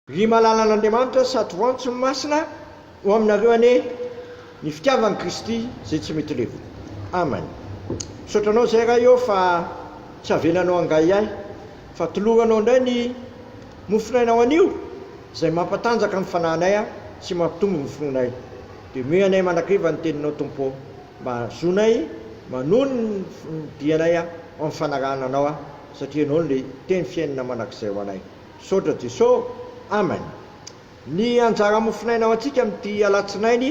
Ry malalan'Andriamanitra, satroantso masina ho aminareo anie ny fitiavan'i Kristy izay tsy mety levona. Amen. Misaotra anao izay Ray ô fa tsy avelanao hangahiahy fa toloranao indray ny mofon'ainao anio izay mampatanjaka ny fanahinay sy mampitombo ny finoanay. Dia omeo anay mandrakariva ny teninao Tompo ô mba hahazoanay manohy ny dianay amin'ny fanarahana anao satria ianao no le teny fiainana mandrakizay ho anay. Misaotra Jeso Amen. Ny anjara mofonaina ho antsika amin'ity alatsinainy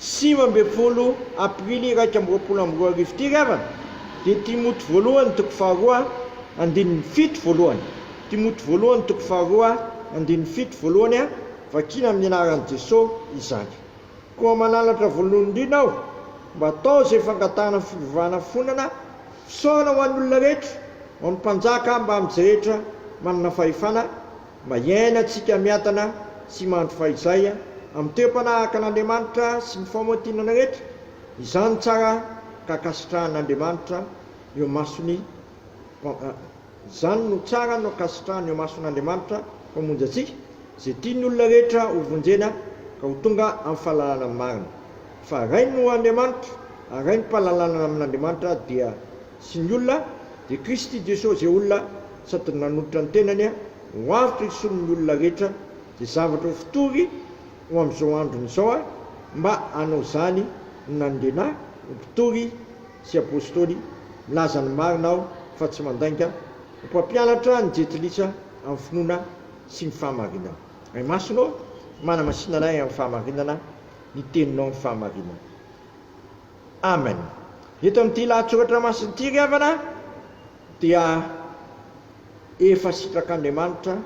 sivy ambin'ny folo aprily iraika amby roapolo amby roa arivo ity ry havana dia Timoty voalohany toko faharoa andininy fito voalohany Timoty voalohany toko faharoa andininy fito voalohany a Vakina amin'ny anaran'i Jeso izany. Koa mananatra volondrina aho mba atao izay fangatahana fivavahana fonana, fisaorana ho an'olona rehetra, ho an'ny mpanjaka mbamintsy rehetra manana fahefana, mba hiainantsika miadana sy mandry fahizay amin'ny toe-panahaakan'Andriamanitra sy ny faomantinana rehetra, izany tsara ka ankasitrahan'Andriamanitra eo mason'ny Izany no tsara no ankasitrahana eo mason'Andriamanitra Mpamonjy antsika, izay tia ny olona rehetra ho vonjena ka ho tonga amin'ny fahalalana marina. Fa Ray no Andriamanitra, ary Ray ny mpahalalanana amin'Andriamanitra dia sy ny olona, dia Kristy Jesosy izay olona sady nanolotra ny tenany ho avotra isonin'ny olona rehetra, dia zavatra ho fotory ho amin'izao androny izao aho mba hanao izany no nanindriana ahy ho mpitory sy Apostoly, milaza ny marina aho fa tsy mandainga, ho mpampianatra ny Jentilisa amin'ny finoana sy ny fahamarinana. Ray Masina ô, manamasina anay amin'ny fahamarinana ny Teninao amin'ny fahamarinana. Amen. Eto amin'ity lahatsoratra masina ity ry havana dia efa sitrak'Andriamanitra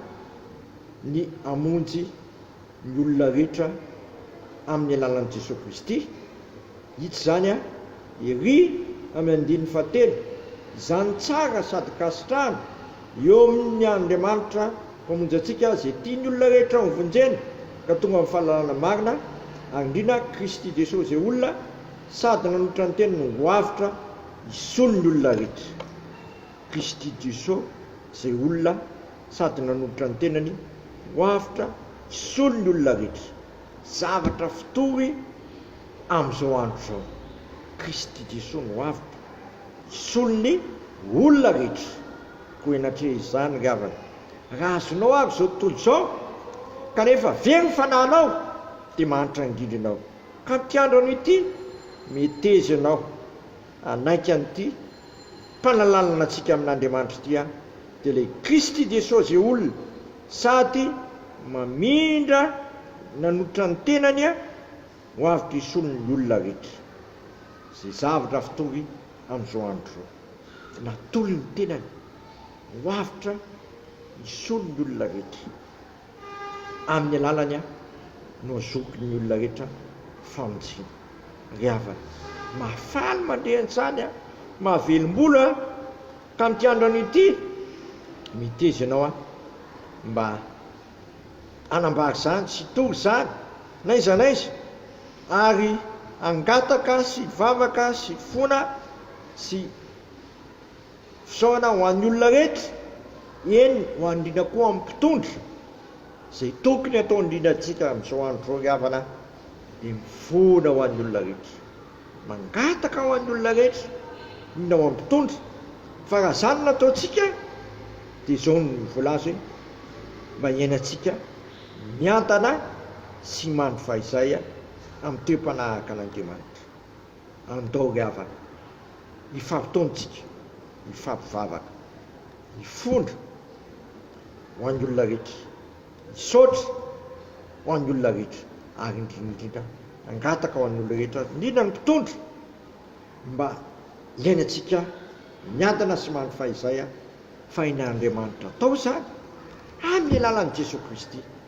ny hamonjy ny olona rehetra amin'ny alalan'i Jesoa Kristy. Hita izany an! Ery amin'ny andininy fahatelo, izany tsara sady kasitrahana eo amin'ny Andriamanitra Mpamonjy antsika izay tia ny olona rehetra hovonjena ka tonga amin'ny fahalalana marina ary indrindra an'i Kristy Jesoa izay olona sady nanolotra ny teniny ho avotra hisolo ny olona rehetra. Christy Dussault izay olona sady nanolotra ny tenany ho avotra hisolo ny olona rehetra, zavatra fitory amin'izao andro izao. Christy Dussault no avotra hisolo ny olona rehetra koa henatria izany ry havana. Raha azonao avy izao tontolo izao kanefa very ny fanahinao dia mahantra angindrana aho ka ny mpiandrano ity meteza ianao hanaiky an'ity mpanalalana antsika amin'Andriamanitra ity aho, dia ilay Kristy Jesosy olona sady mamindra nanotra ny tenany ho avy mpisolo ny olona rehetra. Izay zavatra fitory amin'izao andro izao. Natory ny tenany ho avotra hisolo ny olona rehetra. Amin'ny alalany aho no azoky ny olona rehetra famonjena. Ry havana, mahafaly mandre an-tsany aho, mahavelom-bolo aho tamin'ity androany ity. Miteza ianao aho mba hanambara izany sy hitory izany n'aiza n'aiza, ary hangataka sy hivavaka sy hifona sy. Fisaorana ho an'ny olona rehetra, eny ho an'ny indrindra koa amin'ny mpitondra, izay tokony hatao indrindra antsika amin'izao andro izao ry havana dia mifoana ho an'ny olona rehetra, mangataka ho an'ny olona rehetra, indrindra ho an'ny mpitondra, fa raha izany no ataontsika dia izao no voalaza hoe mba hiainantsika miantana sy mandry fahizay amin'ny toe-panahaka an'Andriamanitra. Andao ry havana, hifampitaontsika, hifampivavaka, hifondra ho an'ny olona rehetra, hisaotra ho an'ny olona rehetra ary indrindra indrindra hangataka ho an'ny olona rehetra, indrindra ny mpitondra, ny mba hiainantsika miadana sy mandry fahizay fahainian'Andriamanitra. Atao izany amin'ny alalan'i Jesoa Kristy.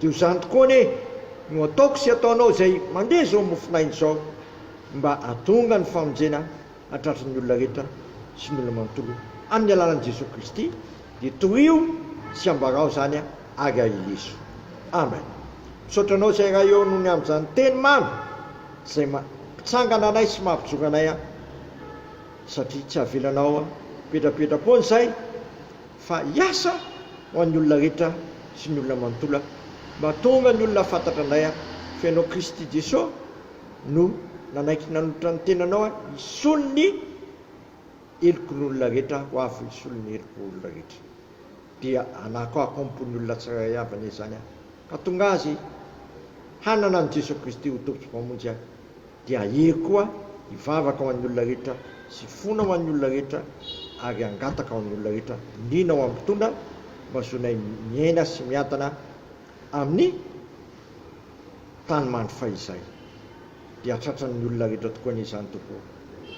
Dia ho zany tokoa anie no ataoko sy ataonao izay mandeha izao mofon'aina izao mba hahatonga ny famonjena hahatratra ny olona rehetra sy ny olona manontolo amin'ny alalan'i Jesoa Kristy dia torio sy ambarao izany ary aheleso. Amen. Misaotra anao izay Ray ô nony amin'izany teny mamy izay mampitsangana anay sy mampijoro anay satria tsy avelanao petrapetra-poana izay. fa hiasa ho an'ny olona rehetra sy ny olona manontolo aho, mba hahatonga ny olona hahafantatra anay aho, fa ianao Kristy Jeso no nanaiky nanolotra ny tenanao hisolo ny helokon'olona rehetra ho avy hisolo ny heloko olona rehetra, dia hanako aho am-pon'ny olona tsirairay avy anie izany aho, hahatonga azy hanana an'i Jeso Kristy ho Tompo sy Mpamonjy ahy. Dia ahery koa hivavaka ho an'ny olona rehetra sy fona ho an'ny olona rehetra ary hangataka ho an'ny olona rehetra liana ho amin'ny mpitondra mba zonay miaina sy miadana amin'ny tany mandry fahizay. Dia tratran'ny olona rehetra tokoa anie izany Tompo ô.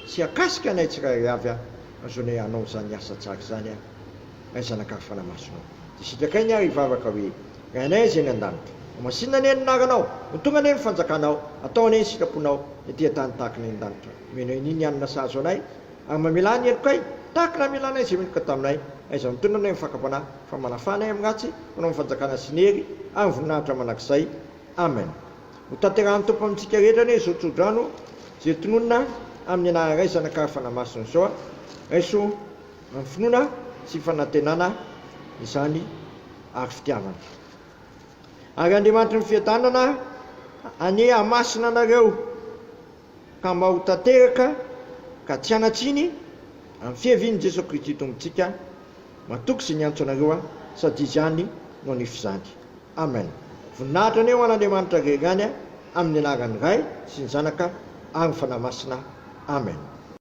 Tsy hakasika anay tsirairay avy aho fa zonay hanao izany asa tsara izany aho. Ray zanak'ahy fanamasonao Dia sitrakai ny ahy hivavaka hoe Ray anay izay any an-danitra Ho masinina anie ny anaranao Ho tonga anie ny fanjakanao Atao anie ny sitraponao Ny aty an-tany tahaka ny any an-danitra Omena anay ny hanina sahazo anay Ary mamelà ny helokay Tahaka ny namelanay izay meloka taminay Aiza no tondranay amin'ny fakam-panahy Fa manafà anay amin'ny ratsy Manao ny fanjakana sy ny hery Ary ny voninahitra mandrakizay Amen Ho tanterahin'ny Tompo amintsika rehetra anie izao tsodrano izay tononina amin'ny anaran'i Ray zanak'ahy fanamasina izao Raiso Amin'ny finoana sy fanantenana izany ary fitiavana. Ary Andriamanitry ny fiadanana anie hamasina anareo ka mba ho tanteraka ka tsy hanan-tsiny amin'ny fiavian'i Jesoa Kristy Tompontsika matoky izay niantso anareo aho sady Izy ihany no hanefy izany. Amen. Voninahitra anie ho an'Andriamanitra Ray ihany amin'ny anaran'ny Ray sy ny Zanaka ary ny Fanahy Masina. Amen.